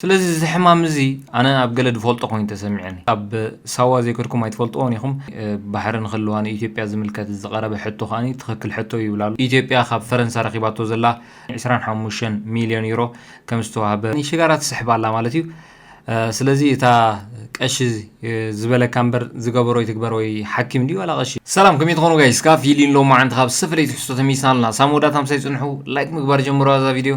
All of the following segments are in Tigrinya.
ስለዚ እዚ ሕማም እዚ ኣነ ኣብ ገለ ድፈልጦ ኮይኑ ተሰሚዑኒ። ኣብ ሳዋ ዘይከድኩም ኣይትፈልጥዎን ኢኹም። ባሕሪ ንክልዋ ንኢትዮጵያ ዝምልከት ዝቐረበ ሕቶ ከኣ ትኽክል ሕቶ እዩ ይብል ኣሎ። ኢትዮጵያ ካብ ፈረንሳ ረኺባቶ ዘላ ዕስራን ሓሙሽተን ሚልዮን ዩሮ ከም ዝተዋህበ። ንሽጋራ ትስሕብ ኣላ ማለት እዩ። ስለዚ እታ ቀሺ ዝበለካ እምበር ዝገበሮ ይትግበር ወይ ሓኪም ድዩ ዋላ ቀሺ። ሰላም ከመይ ትኾኑ ጋይስ ካፊሊን ሎማዓንቲ ካብ ዝተፈለየ ትሕዝቶ ተመሊስና ኣለና ሳብ መወዳእታ ምሳይ ፅንሑ ላይክ ምግባር ጀምሩዋ እዛ ቪድዮ።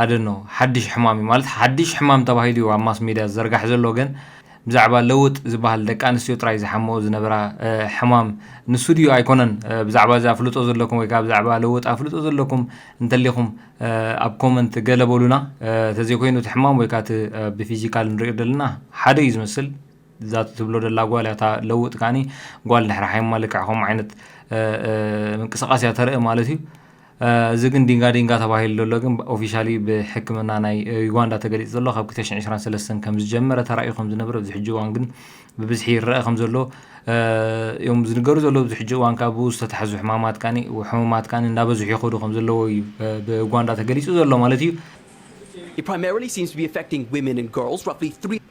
ኣደኖ ሓድሽ ሕማም እዩ ማለት ሓድሽ ሕማም ተባሂሉ እዩ ኣብ ማስ ሜድያ ዝዘርጋሕ ዘሎ ግን ብዛዕባ ለውጥ ዝበሃል ደቂ ኣንስትዮ ጥራይ ዝሓመኦ ዝነበራ ሕማም ንሱ ድዩ ኣይኮነን ብዛዕባ እዚ ኣፍልጦ ዘለኩም ወይ ከዓ ብዛዕባ ለውጥ ኣፍልጦ ዘለኩም እንተሊኹም ኣብ ኮመንት ገለ በሉና ተዘይኮይኑ እቲ ሕማም ወይ ከዓ እቲ ብፊዚካል ንሪኦ ዘለና ሓደ እዩ ዝመስል እዛ ትብሎ ደላ ጓል እታ ለውጥ ከዓኒ ጓል ድሕሪ ሓይማ ልክዕ ከምኡ ዓይነት ምንቅስቃስ እያ ተርኢ ማለት እዩ እዚ ግን ዲንጋ ዲንጋ ተባሂሉ ዘሎ ግን ኦፊሻሊ ብሕክምና ናይ ዩጋንዳ ተገሊጹ ዘሎ ካብ 2023 ከም ዝጀመረ ተራእዩ ከም ዝነበረ ኣብዚ ሕጂ እዋን ግን ብብዝሒ ይረአ ከም ዘሎ እዮም ዝንገሩ ዘለዉ ኣብዚ ሕጂ እዋን ካብ ብኡ ዝተታሕዙ ሕማማት ካኒ ሕሙማት ካኒ እንዳበዝሑ ይኸዱ ከም ዘለዎ እዩ ብዩጋንዳ ተገሊጹ ዘሎ ማለት እዩ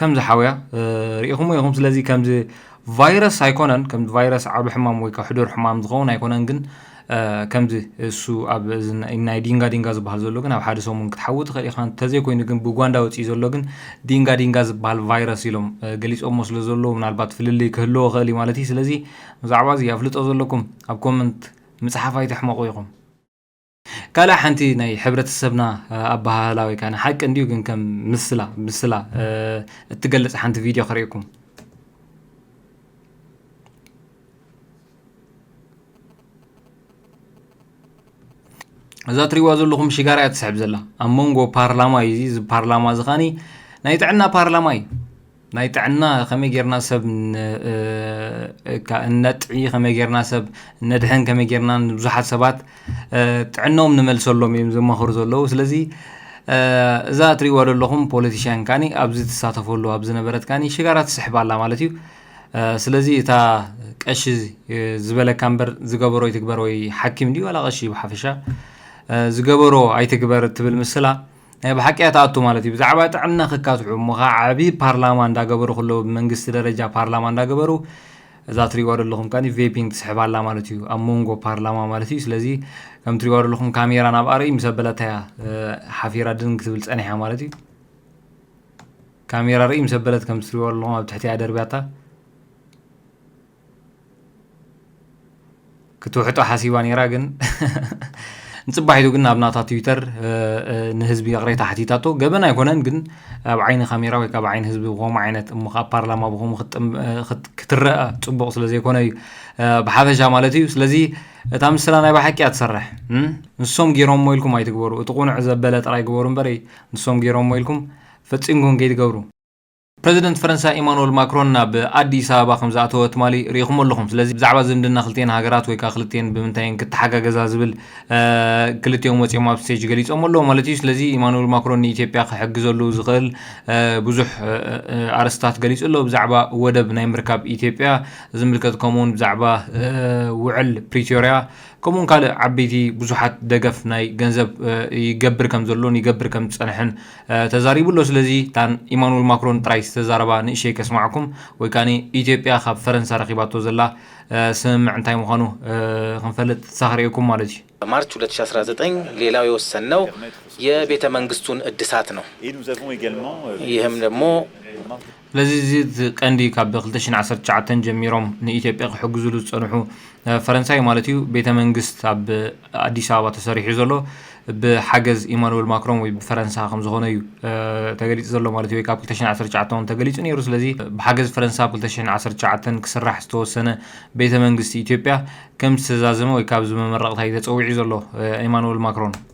ከምዚ ሓውያ ርኢኹሞ ኢኹም ስለዚ ከምዚ ቫይረስ ኣይኮነን ከምዚ ቫይረስ ዓብ ሕማም ወይ ሕዱር ሕማም ዝኸውን ኣይኮነን ግን ከምዚ እሱ ኣብ ናይ ዲንጋ ዲንጋ ዝበሃል ዘሎ ግን ኣብ ሓደ ሰሙን ክትሓዊ ትኽእል ኢኻ እንተዘይኮይኑ ግን ብጓንዳ ወፅኢ ዘሎ ግን ዲንጋ ዲንጋ ዝበሃል ቫይረስ ኢሎም ገሊፆሞ ስለ ዘለዎ ምናልባት ፍልልይ ክህልዎ ክእል እዩ ማለት እዩ ስለዚ ብዛዕባ እዚ ኣፍልጦ ዘለኩም ኣብ ኮመንት ምፅሓፍ ኣይትሕመቑ ኢኹም ካልእ ሓንቲ ናይ ሕብረተሰብና ኣበሃህላ ወይ ከኣ ሓቂ እንድዩ ግን ከም ምስላ ምስላ እትገልጽ ሓንቲ ቪድዮ ክርእየኩም እዛ ትሪዋ ዘለኹም ሽጋራ እያ ትስሕብ ዘላ ኣብ መንጎ ፓርላማ እዩ እዚ ፓርላማ እዚ ኻኒ ናይ ጥዕና ፓርላማ እዩ ናይ ጥዕና ከመይ ጌርና ሰብ እነጥዒ ከመይ ጌርና ሰብ እነድሕን ከመይ ጌርና ንብዙሓት ሰባት ጥዕኖም ንመልሰሎም እዮም ዝማኸሩ ዘለዉ ስለዚ እዛ እትሪእዋ ዘለኹም ፖለቲሽያን ካኒ ኣብዚ ትሳተፈሉ ኣብ ዝነበረት ካኒ ሽጋራ ትስሕብ ኣላ ማለት እዩ ስለዚ እታ ቀሺ ዝበለካ እምበር ዝገበሮ ይትግበር ወይ ሓኪም ድዩ ዋላ ቀሺ ብሓፈሻ ዝገበሮ ኣይትግበር እትብል ምስላ ናይ ብሓቂ እያ ትኣቱ ማለት እዩ ብዛዕባ ጥዕና ክካትዑ እሞ ከ ዓቢ ፓርላማ እንዳገበሩ ከለዉ ብመንግስቲ ደረጃ ፓርላማ እንዳገበሩ እዛ ትሪእዋ ዘለኹም ከኒ ቬፒንግ ትስሕብ ኣላ ማለት እዩ ኣብ መንጎ ፓርላማ ማለት እዩ ስለዚ ከም ትሪእዋ ዘለኹም ካሜራ ናብ ኣርኢ ምስ ኣበለታ እያ ሓፊራ ድን ክትብል ጸኒሓ ማለት እዩ ካሜራ ርኢ ምስ ኣበለት ከም ትሪእዋ ዘለኹም ኣብ ትሕቲ እያ ደርብያታ ክትውሕጦ ሓሲባ ነይራ ግን ንፅባሒቱ ግን ናብ ናታ ትዊተር ንህዝቢ ይቕሬታ ሓቲታቶ ገበን ኣይኮነን ግን ኣብ ዓይኒ ካሜራ ወይ ካብ ዓይኒ ህዝቢ ብከምኡ ዓይነት እሞ ካብ ፓርላማ ብከምኡ ክትረአ ፅቡቕ ስለ ዘይኮነ እዩ ብሓፈሻ ማለት እዩ ስለዚ እታ ምስላ ናይ ባሓቂ እያ ትሰርሕ ንሶም ገይሮሞ ኢልኩም ኣይትግበሩ እቲ ቁኑዕ ዘበለ ጥራይ ግበሩ እምበር ንሶም ገይሮሞ ኢልኩም ፈፂምኩም ከይትገብሩ ፕረዚደንት ፈረንሳ ኢማኑወል ማክሮን ናብ ኣዲስ ኣበባ ከምዝኣተወ ትማሊ ርኢኹሞ ኣለኹም። ስለዚ ብዛዕባ ዝምድና ክልቲኤን ሃገራት ወይ ከኣ ክልቲኤን ብምንታይ እየን ክተሓጋገዛ ዝብል ክልቲኦም ወጺኦም ኣብ ስቴጅ ገሊጾሞ ኣለዉ ማለት እዩ። ስለዚ ኢማኑወል ማክሮን ንኢትዮጵያ ክሕግዘሉ ዝኽእል ብዙሕ ኣርእስትታት ገሊጹ ኣሎ። ብዛዕባ ወደብ ናይ ምርካብ ኢትዮጵያ ዝምልከት ከምኡውን ብዛዕባ ውዕል ፕሪቶርያ ከምኡውን ካልእ ዓበይቲ ብዙሓት ደገፍ ናይ ገንዘብ ይገብር ከም ዘሎን ይገብር ከም ዝጸንሐን ተዛሪቡ ኣሎ ስለዚ እታ ኢማኑል ማክሮን ጥራይ ዝተዛረባ ንእሸይ ከስማዕኩም ወይ ከኣ ኢትዮጵያ ካብ ፈረንሳ ረኪባቶ ዘላ ስምምዕ እንታይ ምኳኑ ክንፈልጥ ትሳኽ ርኤኩም ማለት እዩ። በማርች ሁለት ሺህ አስራ ዘጠኝ ሌላው የወሰንነው የቤተ መንግስቱን እድሳት ነው ይህም ደግሞ። ስለዚ እዚ እቲ ቀንዲ ካብ ክልተ ሽሕን ዓሰርተ ትሽዓተን ጀሚሮም ንኢትዮጵያ ክሕግዙሉ ዝጸንሑ ፈረንሳይ ማለት እዩ ቤተ መንግስት ኣብ ኣዲስ ኣበባ ተሰሪሑ ዘሎ ብሓገዝ ኢማኑኤል ማክሮን ወይ ብፈረንሳ ከም ዝኾነ እዩ ተገሊጹ ዘሎ ማለት እዩ ወይ ካብ ክልተ ሽሕን ዓሰርተ ትሽዓተን እውን ተገሊጹ ነይሩ ስለዚ ብሓገዝ ፈረንሳ ኣብ ክልተ ሽሕን ዓሰርተ ትሽዓተን ክስራሕ ዝተወሰነ ቤተ መንግስቲ ኢትዮጵያ ከም ዝተዛዘመ ወይ ካብዚ መመረቕታ እዩ ተጸዊዑ ዘሎ ኢማኑኤል ማክሮን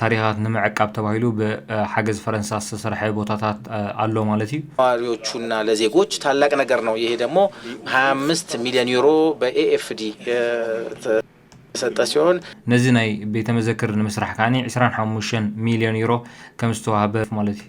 ታሪኻት ንምዕቃብ ተባሂሉ ብሓገዝ ፈረንሳ ዝተሰርሐ ቦታታት ኣሎ ማለት እዩ። ለነዋሪዎቹ እና ለዜጎች ታላቅ ነገር ነው ይሄ ደግሞ ሃያ አምስት ሚሊዮን ዩሮ በኤኤፍዲ የተሰጠ ሲሆን። ነዚ ናይ ቤተመዘክር ንምስራሕ ከኣ ዒስራን ሓሙሽተን ሚሊዮን ዩሮ ከምዝተዋህበ ማለት እዩ።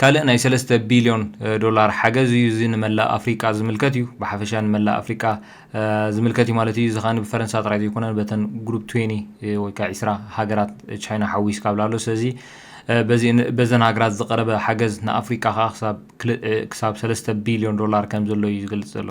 ካልእ ናይ ሰለስተ ቢልዮን ዶላር ሓገዝ እዩ። እዚ ንመላእ ኣፍሪቃ ዝምልከት እዩ። ብሓፈሻ ንመላእ ኣፍሪቃ ዝምልከት እዩ ማለት እዩ። እዚ ከኣ ብፈረንሳ ጥራይ ዘይኮነን በተን ግሩፕ ትዌኒ ወይ ከኣ ዕስራ ሃገራት ቻይና ሓዊስካ እብል ኣሎ። ስለዚ በዚ በዘን ሃገራት ዝቐረበ ሓገዝ ንኣፍሪቃ ከኣ ክሳብ ክሳብ ሰለስተ ቢልዮን ዶላር ከምዘሎ እዩ ዝገልጽ ዘሎ።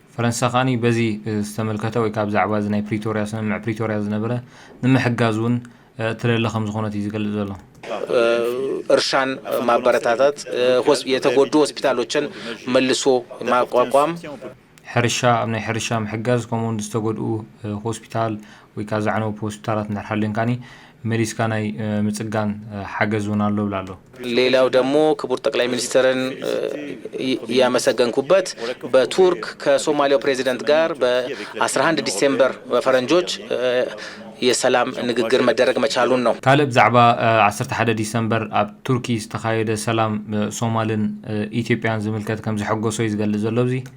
ፈረንሳ ከኣ በዚ ዝተመልከተ ወይ ከኣ ብዛዕባ እዚ ናይ ፕሪቶርያ ስምምዕ ፕሪቶርያ ዝነበረ ንምሕጋዝ እውን እትደሊ ከምዝኾነት እዩ ዝገልጽ ዘሎ። እርሻን ማበረታታት፣ የተጎዱ ሆስፒታሎችን መልሶ ማቋቋም፣ ሕርሻ ኣብ ናይ ሕርሻ ምሕጋዝ ከምኡውን ዝተጎድኡ ሆስፒታል ወይ ከኣ ዘዕነውብ ሆስፒታላት እንድሕር ሃልየን ከኣ መሊስካ ናይ ምጽጋን ሓገዝ እውን ኣሎ ይብል ኣሎ። ሌላው ደግሞ ክቡር ጠቅላይ ሚኒስትርን ያመሰገንኩበት በቱርክ ከሶማሊያው ፕሬዚደንት ጋር በ አስራ አንድ ዲሴምበር በፈረንጆች የሰላም ንግግር መደረግ መቻሉን ነው። ካልእ ብዛዕባ ዓሰርተ ሓደ ዲሰምበር ኣብ ቱርኪ ዝተኻየደ ሰላም ሶማልን ኢትዮጵያን ዝምልከት ከምዘሐጎሶ እዩ ዝገልጽ ዘሎ። ኣብዚ።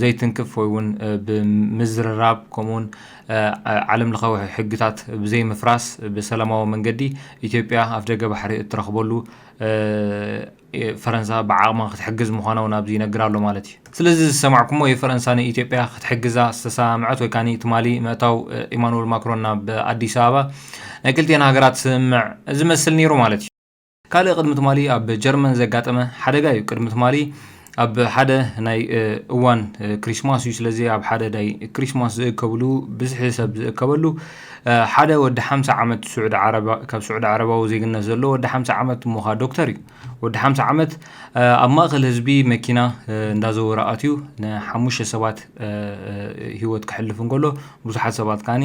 ዘይትንክፍ ወይ እውን ብምዝርራብ ከምኡ እውን ዓለም ለኻዊ ሕግታት ብዘይምፍራስ ብሰላማዊ መንገዲ ኢትዮጵያ ኣፍደገ ባሕሪ እትረኽበሉ ፈረንሳ ብዓቕማ ክትሕግዝ ምዃና እውን ኣብዚ ይነግር ኣሎ ማለት እዩ። ስለዚ እዚ ዝሰማዕኩሞ እዩ ፈረንሳ ንኢትዮጵያ ክትሕግዛ ዝተሰማምዐት ወይ ከኣ ትማሊ ምእታው ኢማኑኤል ማክሮን ናብ ኣዲስ ኣበባ ናይ ክልቲኤን ሃገራት ስምምዕ ዝመስል ነይሩ ማለት እዩ። ካልእ ቅድሚ ትማሊ ኣብ ጀርመን ዘጋጠመ ሓደጋ እዩ። ቅድሚ ትማሊ ኣብ ሓደ ናይ እዋን ክሪስማስ እዩ። ስለዚ ኣብ ሓደ ናይ ክሪስማስ ዝእከብሉ ብዝሒ ሰብ ዝእከበሉ ሓደ ወዲ ሓምሳ ዓመት ስዑዲ ዓረብ ካብ ስዑዲ ዓረባዊ ዜግነት ዘሎ ወዲ ሓምሳ ዓመት ሞኻ ዶክተር እዩ። ወዲ ሓምሳ ዓመት ኣብ ማእከል ህዝቢ መኪና እንዳዘወረ ኣትዩ ንሓሙሽተ ሰባት ህይወት ክሕልፍ እንከሎ ብዙሓት ሰባት ከዓኒ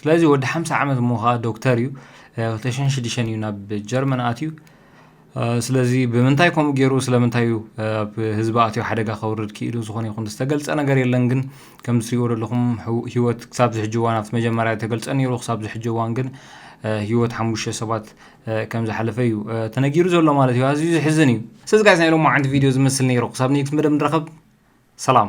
ስለዚ ወዲ ሓምሳ ዓመት እሞ ከኣ ዶክተር እዩ ክልተ ሽሕን ሽዱሽተን እዩ ናብ ጀርመን ኣትዩ ስለዚ ብምንታይ ከምኡ ገይሩ ስለምንታይ እዩ ኣብ ህዝቢ ኣትዮ ሓደጋ ከውርድ ክኢሉ ዝኾነ ይኹን ዝተገልጸ ነገር የለን ግን ከም ዝትሪእዎ ዘለኹም ህይወት ክሳብ ዝሕጂ እዋን ኣብቲ መጀመርያ ተገልጸ ነይሩ ክሳብ ዝሕጂ እዋን ግን ህይወት ሓሙሽተ ሰባት ከም ዝሓለፈ እዩ ተነጊሩ ዘሎ ማለት እዩ ኣዝዩ ዝሕዝን እዩ ስለዚ ጋይስ ናይ ሎማዓንቲ ቪድዮ ዝመስል ነይሩ ክሳብ ኔክስት መደብ ንረኸብ ሰላም